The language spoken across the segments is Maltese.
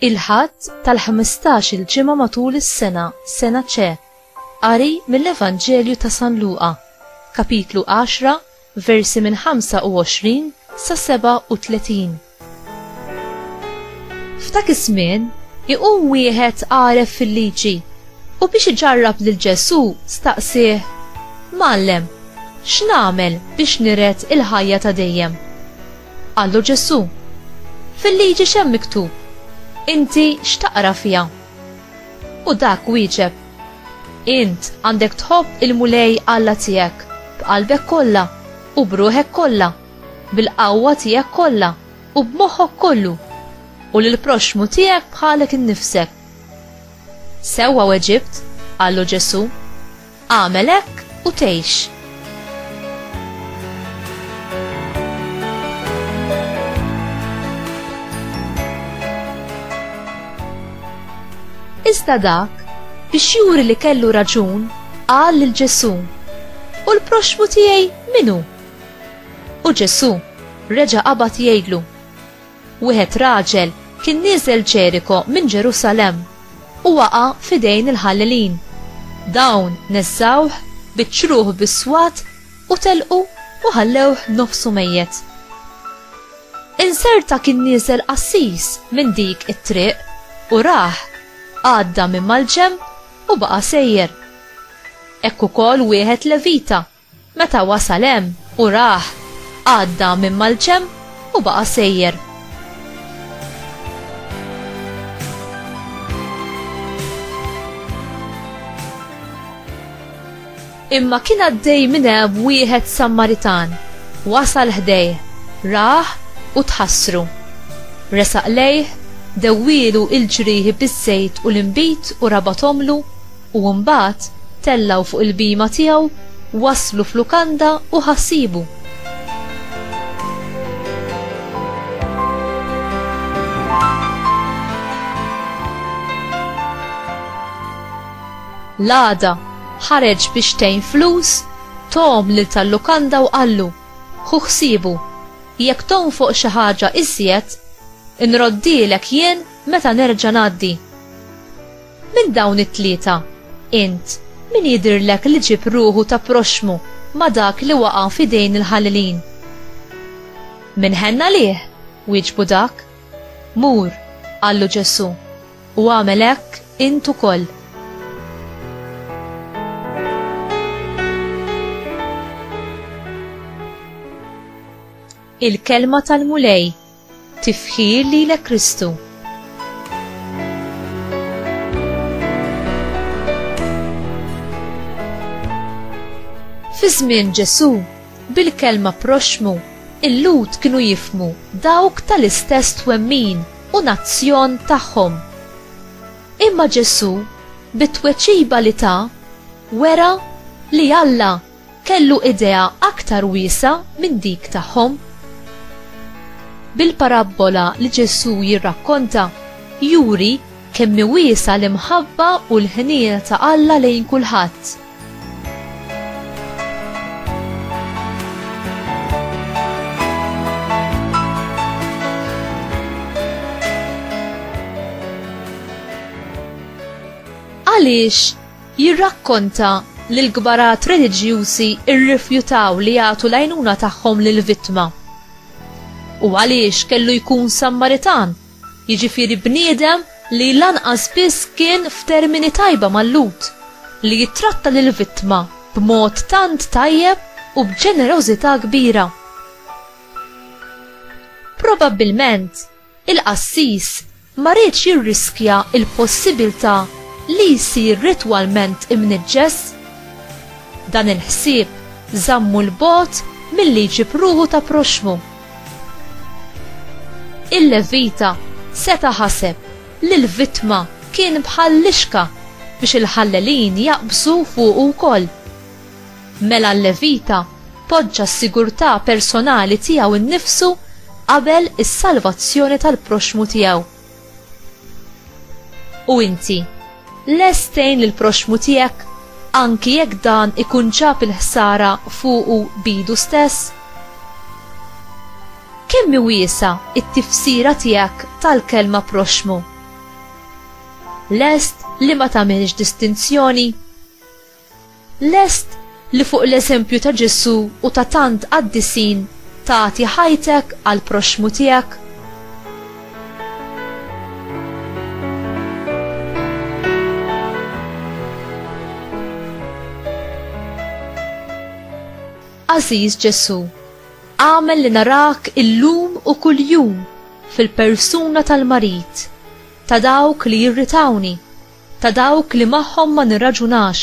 il-ħadd tal-15 il-ġimgħa matul is-sena, sena ċe. Qari mill-Evanġelju ta' San Luqa, kapitlu 10, Versi minn 25 sa 37. F'dak iż-żmien iqum wieħed għaref fil-liġi u biex iġarrab lil Ġesù staqsieh, Mgħallem, x'nagħmel biex niret il-ħajja ta' dejjem? Qallu Ġesù, Fil-liġi x'hemm miktub? Inti x'taqra fiha? U dak wieġeb, Int għandek tħobb il-Mulej Alla tiegħek b'qalbek kollha u b'ruħek kollha, bil-qawwa tiegħek kollha u b'moħħok kollu, u lill-proxxmu tiegħek bħalek innifsek. Sewwa weġibt, qallu Ġesù. Agħmel hekk u tgħix. Iżda dak, biex juri li kellu raġun, qal lil Ġesù, U l-proxmu tiegħi minu? U Ġesù reġa' qabad jgħidlu, Wieħed raġel kien nieżel Ġeriko minn Ġerusalemm u waqa' f'idejn il-ħallelin. Dawn neżżgħuh, biċċruh bis-swat u telqu u ħallewh nofsu mejjet. Inzerta kien nieżel qassis minn dik it-triq u rah, għadda minn mal-ġenb u baqa' sejjer. Hekk ukoll wieħed Levita Meta wasal hemm u rah, għadda minn mal-ġenb u baqa' sejjer. Imma kien għaddej minn hemm wieħed Sammaritan. Wasal ħdejh, rah u tħassru. Resaq lejh, dewwielu l-ġrieħi biż-żejt u l-inbid u rabathomlu, U mbagħad tellgħu fuq il-bhima tiegħu, waslu f'lukanda u ħassibu. L-għada, ħareġ biex tgħin flus, tom lil tal-lukanda u qallu, Ħu ħsiebu, jekk tonfoq xi ħaġa iżjed, inroddilek jien meta nerġa' ngħaddi. Minn dawn it-tlieta, int min jidhirlek li ġieb ruħu ta' proxxmu ma' dak li waqa' f'idejn il-ħalilin? Minn ħenn għalih, wieġbu dak. Mur, qallu Ġesù, u agħmel hekk int ukoll. Il-Kelma tal-Mulej Tifħir lilek Kristu. Fi żmien Ġesu, bil-kelma proxmu, il-Lud kienu jifmu dawk tal-istess twemmin u nazzjon tagħhom. Imma Ġesu, bit-tweċiba li ta, wera li Alla kellu idea aktar wiesgħa minn dik tagħhom. Bil-parabbola li Ġesù jirrakkonta, juri kemm hi wiesgħa l-imħabba u l-ħniena ta' Alla lejn kulħadd. Għaliex jirrakkonta li l-kbarat reliġjużi rrifjutaw li jagħtu l-għajnuna tagħhom lill-vittma. U għaliex kellu jkun Sammaritan, jiġifieri bniedem li lanqas biss kien f'termini tajba mal-Lhud, li jittratta lill-vittma b'mod tant tajjeb u b'ġenerożità kbira. Probabbilment, Il-qassis ma riedx jirriskja l-possibiltà li jsir ritwalment imniġġes. Dan il-ħsieb żammu 'l bogħod milli jġib ruħu ta' proxxmu. Il-Levita seta' ħaseb li l-vittma kien bħal lixka biex il-ħallelin jaqbżu fuqu wkoll. Mela l-Levita poġġa s-sigurtà personali tiegħu nnifsu qabel is-salvazzjoni tal-proxxmu tiegħu. U inti, lest tgħin lill-proxxmu tiegħek anki jekk dan ikun ġab il-ħsara fuqu bidu stess? Kemm wiesa it-tifsira tiegħek tal-kelma proxxmu? Lest li ma tagħmilx distinzjoni? Lest li fuq l-eżempju ta' Ġesù u ta' tant qaddisin tagħti ħajtek għall-proxxmu tiegħek? Aziz Ġesu, għamel li narak illum u kuljum fil-persuna tal-marit, ta' dawk li jirritawni, Ta' dawk li magħhom ma nirraġunax.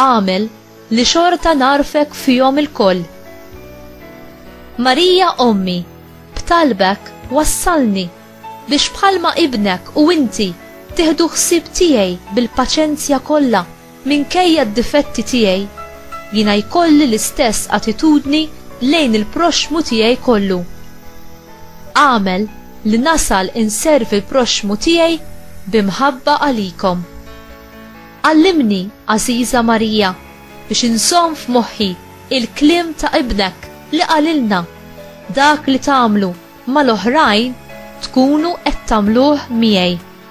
Agħmel li xorta ngħarfek fihom ilkoll. Marija Ommi, b'talbek wassalni biex bħalma Ibnek u inti tieħdu ħsieb tiegħi bil-paċenzja kollha. Minkejja d-difetti tiegħi, jiena jkolli l-istess attitudni lejn il-proxxmu tiegħi kollu. Agħmel li nasal inservi l-proxxmu tiegħi bi mħabba għalikom. Għallimni, għażiża Marija, biex inżomm f'moħħi l-kliem ta' Ibnek li qalilna, Dak li tagħmlu mal-oħrajn tkunu qed tagħmluh miegħi.